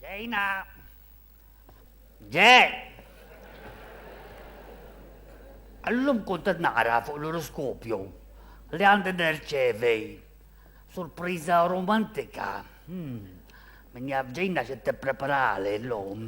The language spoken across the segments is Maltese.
Dejna. Dej. Allum kont naqra fuq l-oroskopju li għandi nerċevi surpriża romantika. Hmm. Min jaf ġejna xi tippreparali l-lum.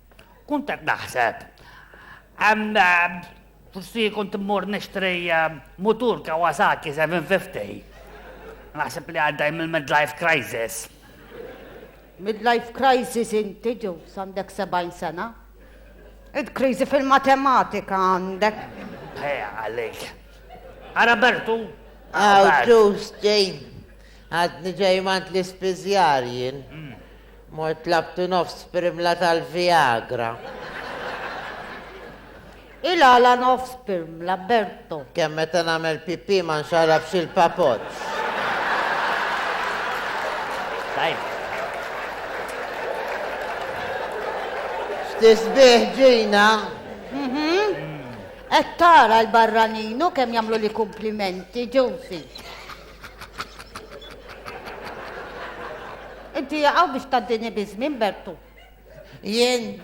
Kunt qed naħseb, forsi kont immur nixtri mutur Kawasaki 750. Naħseb li għaddej mill-midlife crisis. Midlife crisis inti ġew għandek 70 sena? Id kriżi fil-matematika għandek. Ħeja għalik. Ara Bertu. Għaw ġus ġej. Għadni ġej mant l-ispizjar jien. Mm. Mort tlabt nofs pirmla tal-Viagra. Il-għala nofs pirmla, Berto? Kemm meta nagħmel pipì ma nxarrabx il-papoċċ. Tajb. X'tisbieħ ġina? Mhm. Qed tara l-barranin u kemm jagħmlu li kumplimenti, Josie. Inti jaqaw biex taddini bizmin, Bertu. Jien,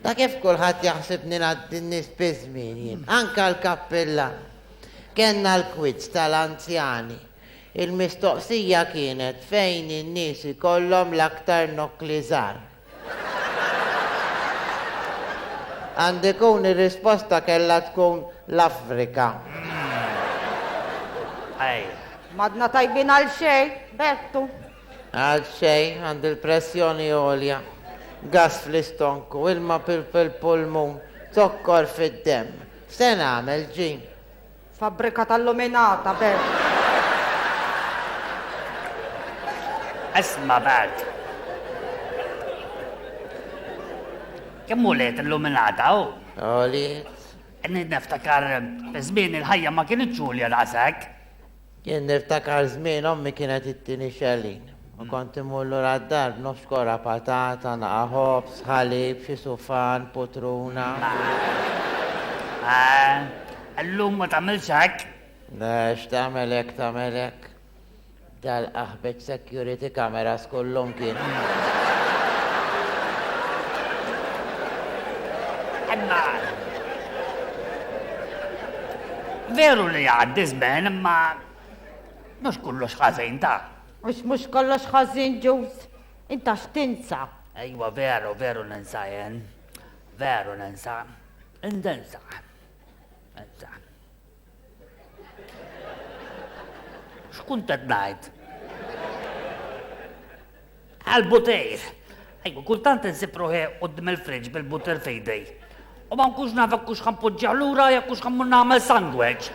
ta' kif kulħadd jaħsibni naddinni bizmin jien, anka l-kappilla. Kenna l-kwizz tal-anzjani. Il-mistoqsija kienet fejn in-nies ikollhom l-aktar nokli żgħar. Għand ikun ir-risposta kellha tkun l-Afrika. Ej. M'għadna tajbin għal xejn, Bertu. Għal xejn, għandi l-pressjoni għolja, gass fl-istonku, ilma fil-pulmun, zokkor fid-demm. X'se nagħmel, Jean? Fabbrika tal-luminata bes. Isma' bad. Kemm uliet illuminata hu? Għoliet. Niftakar żmien il-ħajja ma kinitx għolja daqshekk. Jien niftakar żmien ommi kienet ittini xellin u kont immur lura d-dar b'nofs kora patata, naqa' ħobż, ħalib, xi sufan, putruna. Llum ma tagħmilx hekk? Le, x'tagħmel hekk tagħmel hekk. Dalqa. B'hekk security cameras kullhom kienu. Imma. Veru li għaddi żmen imma mhux kollox ħażin ta. Mhux mhux kollox ħażin ġuż. Inta x'tinsa? Ejwa veru, veru ninsa jien. Veru ninsa. Indensa. Insa. X'kunt qed ngħid? Għal-butejr. Ejku, kultant insib ruħi qudiem il-friġġ bil-butter fejdej. U ma nkunx naf jekk hux ħampoġġih lura jekk hux ħammur nagħmel sandwich.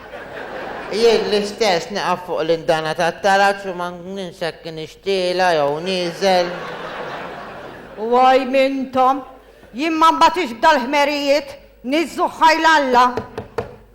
Jien l-istess naqaf fuq l-indana tat-taraġ u ma ninsek nixtiela jew nieżel. Waj mintom, jien ma mbatix b'dal-ħmerijiet, niżżu ħajl Alla.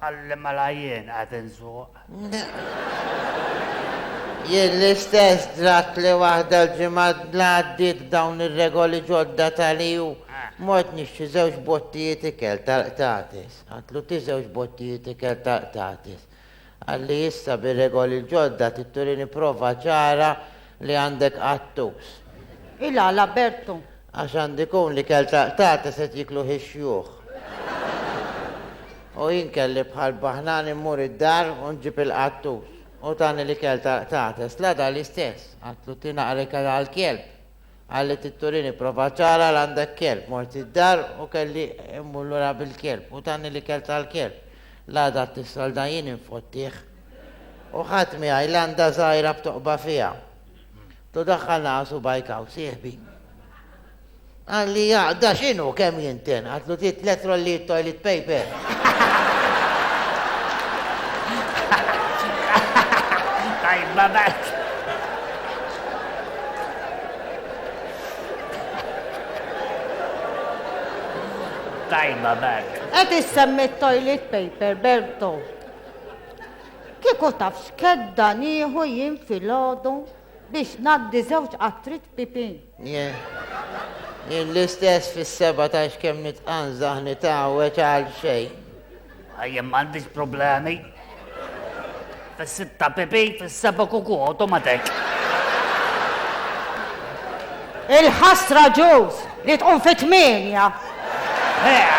Qalli mela jien qed insuq. Jien l-istess dratt li waħda l-ġimgħa l-għaddiet b'dawn ir-regoli ġodda tal-EU. Mort nixtri żewġ bottijiet ikel tal-qtates. Għadtlu tih żewġ bottijiet ikel tal-qtates. Qalli issa bir-regoli l-ġodda trid turini prova ċara Li għandek qattus. Il-għala Bertu. Għax għandu jkun li kelt għaqtata se jiekluh ix-xjuħ. U jien kelli bħal baħnan immur id-dar u nġib il-qattus. U tani li kelt għaqtata. Slada l-istess. Għatlu tinaqrek għal kelb. Qalet it-Turini prova ċara l-għandek kelb, mort id-dar u kelli immur lura bil-kelb u tani l-ikel tal-kelb. L-għada t-tissolda jien infottih. U ħadt miegħi landa żgħira b'toqba fiha. Tu daħħal naqa' subgħajk hawn, sieħbi. Qalli jaqda x'inhu kemm jinten? Għedtlu trid tliet rollijiet toilet paper. Tajba b'hekk. Tajba Bert. Qed issemmi t-toilet paper, Berto. Kieku taf x'kedda nieħu jien filgħodu biex ngħaddi żewġ qatrit pipi. Jien, jien l-istess fis-seba ta' x'kemm nitqanżaħ nitgħawweġ għal xejn. Jien m'għandix problemi. Fis-sitta pipi, fis-seba' kuku automatic. Il-ħasra ġuż li tqum fi tmienja. Eh,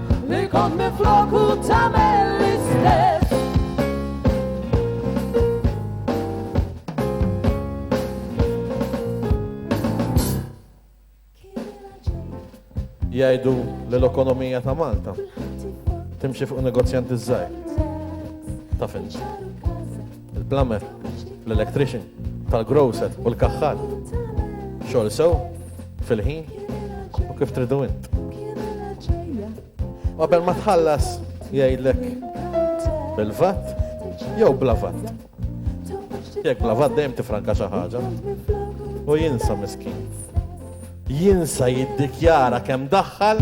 Li kont minflok u tagħmel l-istess. Jgħidu li l-ekonomija ta' Malta timxi fuq negozjanti żgħir. Ta' fin. Il-plumber, l-electrician, tal-grocer u l-kaħħar. Xogħol sew, fil-ħin u kif tridu int. Qabel ma tħallas jgħidlek bil-vat jew bla vat. Jekk bla vat dejjem tifranka xi ħaġa u jinsa miskin jinsa jiddikjara kemm daħħal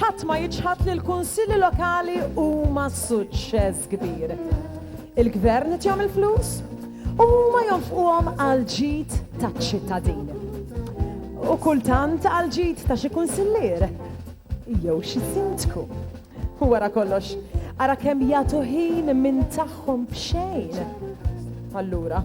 Ħadd ma jiċħad li l-Kunsilli Lokali huma suċċess kbir. Il-Gvern qed jagħmel flus u huma jonfquhom għal ġid taċ-ċittadin. U kultant għal ġid ta' xi kunsillier jew xi sindku. U wara kollox, ara kemm jagħtu ħin minn tagħhom f'xejn. Allura,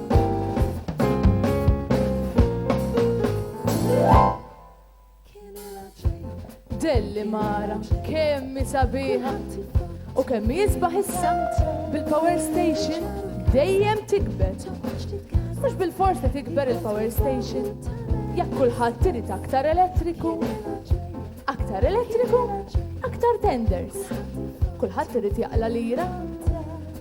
Delli mara, kemmi sabiħa u kemmi jisbaħ is-sant bil-power station dejjem tikber. Mux bil-fors li tikber il-power station, jekk kulħadd tirid aktar elettriku. Aktar elettriku, aktar tenders. Kulħadd irid jaqla lira.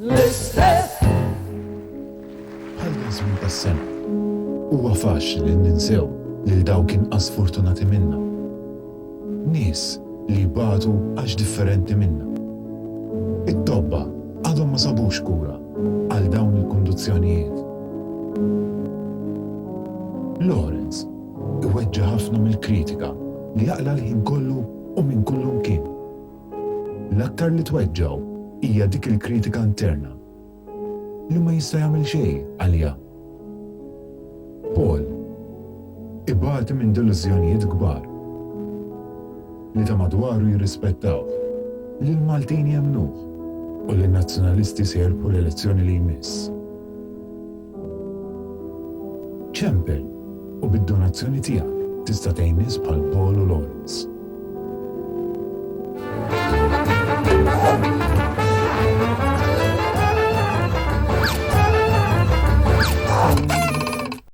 l-istess. Bħal dan żmien tas-sena, huwa faċli li ninsew lil dawk inqas fortunati minna. Nies li jbatu għax differenti minna. It-tobba għadhom ma sabux kura għal dawn il-kundizzjonijiet. Lawrence iweġġa' ħafna mill-kritika li jaqla' l-ħin kollu u minn kullimkien. L-aktar li tweġġgħu hija dik il-kritika interna li ma jista' jagħmel xejn għaliha. Paul ibati minn delużjonijiet kbar li ta' madwaru jirrispettawh, li l-Maltin jemmnuh u li n-Nazzjonalisti se jirbħu l-elezzjoni li jmiss. Ċempel u bid-donazzjoni tiegħek tista' tgħin nies bħal Paul u Lawrence.